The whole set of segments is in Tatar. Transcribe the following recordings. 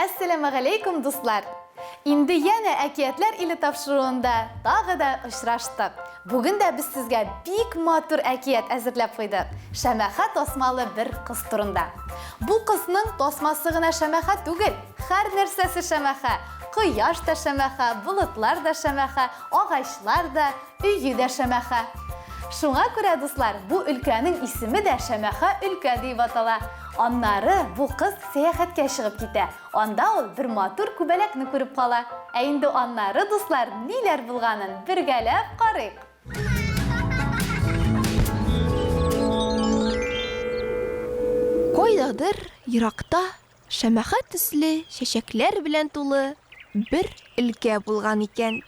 Әссәләмәгаләйкүм, дуслар! Инде янә Әкиятләр иле тапшыруында тагы да очраштык. Бүген дә без сезгә бик матур әкият әзерләп куйдык, шәмәхә тасмалы бер кыз турында. Бу кызның тасмасы гына шәмәхә түгел, һәрнәрсәсе шәмәхә, кояш та шәмәхә, болытлар да шәмәхә, агачлар да, Өе дә Шәмәхә. Шуңа күрә, дуслар, бу өлкәнең исеме дә Шәмәхә өлкә диеп атала. Аннары бу кыз сәяхәткә чыгып китә. Анда ул бер матур күбәләкне күреп кала. Ә инде аннары, дуслар, ниләр булганын бергәләп карыйк. Кайдадыр еракта Шәмәхә төсле чәчәкләр белән тулы бер өлкә булган икән.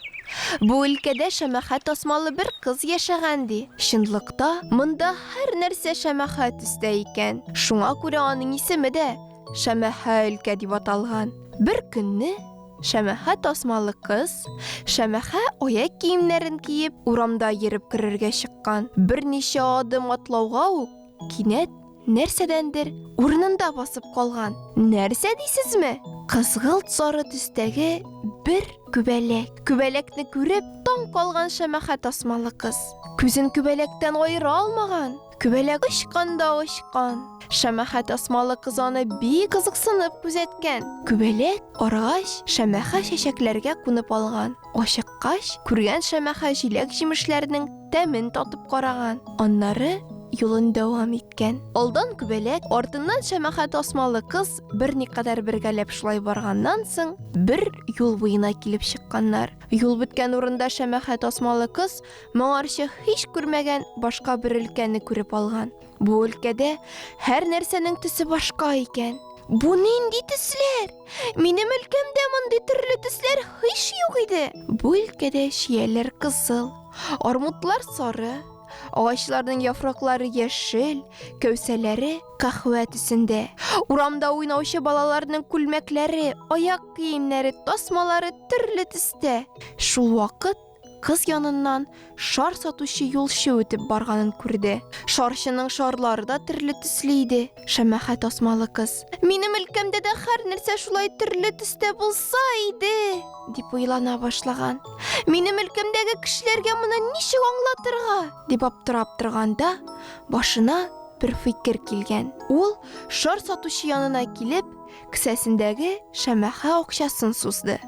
Бу өлкәдә шәмәхә тасмалы бер кыз яшәгән, ди. Чынлыкта, монда һәрнәрсә шәмәхә төстә икән. Шуңа күрә аның исеме дә Шәмәхә өлкә дип аталган. Бер көнне шәмәхә тасмалы кыз, шәмәхә аяк киемнәрен киеп, урамда йөреп керергә чыккан. Берничә адым атлауга ук, кинәт нәрсәдәндер урынында басып калган. Нәрсә дисезме? Кызгылт сары төстәге бер күбәләк. Күбәләкне күреп, таң калган шәмәхә тасмалы кыз. Күзен күбәләктән аера алмаган. Күбәләк очкан да очкан. Шәмәхә тасмалы кыз аны бик кызыксынып күзәткән. Күбәләк арыгач, шәмәхә чәчәкләргә кунып алган. Ачыккач, күргән Шәмәхә җиләк-җимешләрнең тәмен татып караган. Аннары юлын дәвам иткән. Алдан күбәләк, артыннан Шәмәхә тасмалы кыз берникадәр бергәләп шулай барганнан соң, бер юл буена килеп чыкканнар. Юл беткән урында Шәмәхә тасмалы кыз моңарчы һич күрмәгән башка бер өлкәне күреп алган. Бу өлкәдә һәр нәрсәнең төсе башка икән. Бу нинди төсләр? Минем өлкәмдә мондый төрле төсләр һич юк иде. Бу өлкәдә чияләр кызыл, армутлар сары, агачларның яфраклары яшел, кәүсәләре кахвә төсендә. Урамда уйнаучы балаларның күлмәкләре, аяк киемнәре, тасмалары төрле төстә. Шул вакыт Кыз яныннан шар сатучы юлчы үтеп барганын күрде. Шарчының шарлары да төрле төсле иде. Шәмәхә тасмалы кыз. Минем өлкәмдә дә хәр нәрсә шулай төрле төстә булса иде, дип уйлана башлаган. Минем өлкәмдәге кешеләргә моны ничек аңлатырга? дип аптырап торганда, башына бер фикер килгән. Ул шар сатучы янына килеп, кесәсендәге шәмәхә акчасын сузды.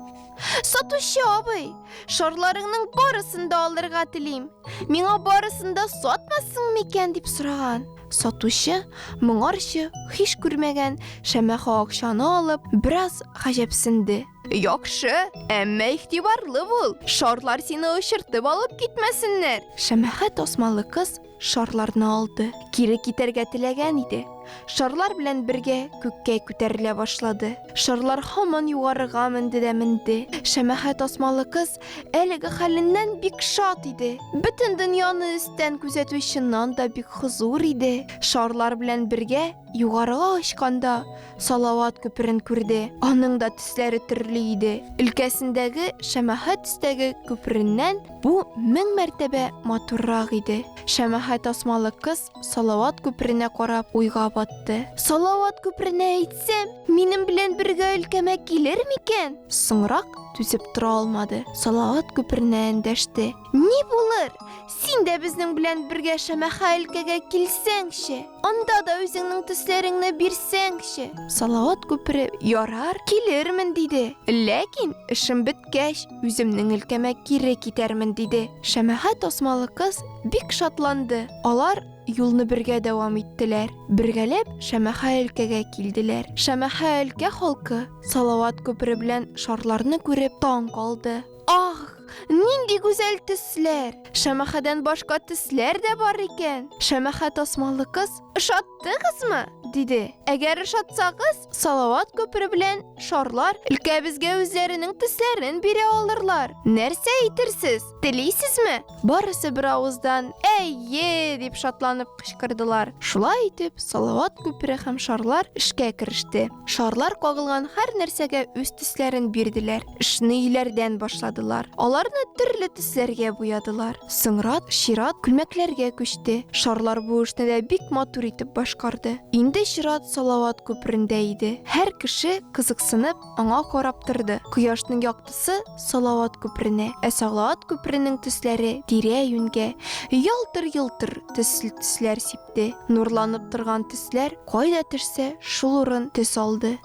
Сатучы абый, шарларыңның барысын да алырга телим. Миңа барысын да сатмассың микән дип сораган. Сатучы моңарчы хиш күрмәгән шәмәхә акчаны алып, бераз гаҗәпсенде. Яхшы, әмма ихтибарлы бул. Шарлар сине очыртып алып китмәсеннәр. Шәмәхә тасмалы кыз Шарларны алды. Кире китәргә теләгән иде. Шарлар белән бергә күккә күтәрелә башлады. Шарлар һаман югарыга менде дә менде. Шәмәхә тасмалы кыз әлеге хәленнән бик шат иде. Бөтен дөньяны өстән күзәтү чыннан да бик хозур иде. Шарлар белән бергә югарыга очканда, Салават күперен күрде. Аның да төсләре төрле иде. Өлкәсендәге шәмәхә төстәге күпереннән, Бу мең мәртәбә матуррак иде. Шәмәхә тасмалы кыз Салават күперенә карап уйга батты. Салават күперенә әйтсәм, минем белән бергә өлкәмә килер микән? Соңрак түзеп тора алмады. Салават күперенә эндәште. Ни булыр? Син дә безнең белән бергә Шәмәхә өлкәгә килсәңче. Анда да үзеңнең төсләреңне бирсәңче. Салават күпере ярар, килермен, диде. Ләкин эшем беткәч, Үземнең өлкәмә кире китәрмен, диде. Шәмәхә тасмалы кыз бик шатланды. Алар юлны бергә дәвам иттеләр. Бергәләп Шәмәхә өлкәгә килделәр. Шәмәхә өлкә халкы Салават күпере белән шарларны күреп таң калды. Ах, нинди гүзәл төсләр! Шәмәхәдән башка төсләр дә бар икән! Шәмәхә тасмалы кыз, Ошаттыгызмы? диде. Әгәр ошатсагыз, Салават күпере белән шарлар өлкәбезгә үзләренең төсләрен бирә алырлар. Нәрсә әйтерсез? Телисезме? Барысы бер авыздан әйе дип шатланып кычкырдылар. Шулай итеп, Салават күпере һәм шарлар эшкә кереште. Шарлар кагылган һәр нәрсәгә үз төсләрен бирделәр. Эшне өйләрдән башладылар. Аларны төрле төсләргә буядылар. Соңрак чират күлмәкләргә күчте. Шарлар бу эшне дә бик матур итеп башкарды. Инде чират Салават күперендә иде. Һәр кеше, кызыксынып, аңа карап торды. Кояшның яктысы Салават күперенә, ә Салават күперенең төсләре тирә-юньгә ялтыр-йолтыр төсле төсләр сипте. Нурланып торган төсләр кайда төшсә, шул урын төс алды.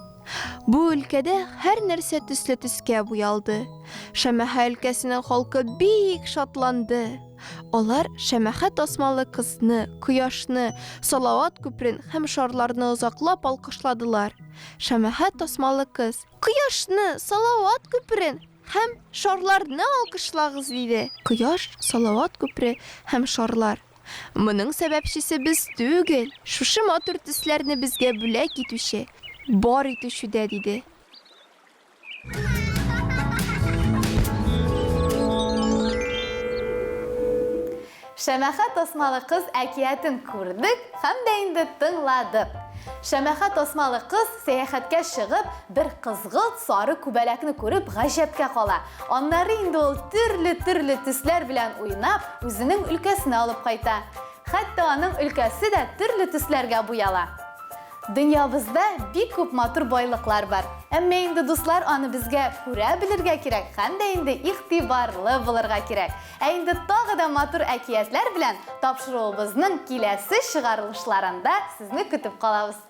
Бу өлкәдә һәр нәрсә төсле төскә буялды. Шәмәхә өлкәсенең халкы бик шатланды. Алар шәмәхә тасмалы кызны, кояшны, Салават күперен һәм шарларны озаклап алкышладылар. Шәмәхә тасмалы кыз. Кояшны, Салават күперен һәм шарларны алкышлагыз! диде. Кояш, Салават күпере һәм шарлар. Моның сәбәпчесе без түгел, шушы матур төсләрне безгә бүләк итүче, бар итүче дә, диде. Шәмәхә тасмалы кыз әкиятен күрдек һәм дә инде тыңладык. Шәмәхә тасмалы кыз сәяхәткә чыгып, бер кызгылт сары күбәләкне күреп гаҗәпкә кала. Аннары инде ул төрле-төрле төсләр белән уйнап, үзенең өлкәсенә алып кайта. Хәтта аның өлкәсе дә төрле төсләргә буяла. Дөньябызда бик күп матур байлыклар бар. Әмма инде дуслар аны безгә күрә белергә кирәк һәм дә инде игътибарлы булырга кирәк. Ә инде тагы да матур әкиятләр белән тапшыруыбызның киләсе чыгарылышларында сезне көтеп калабыз.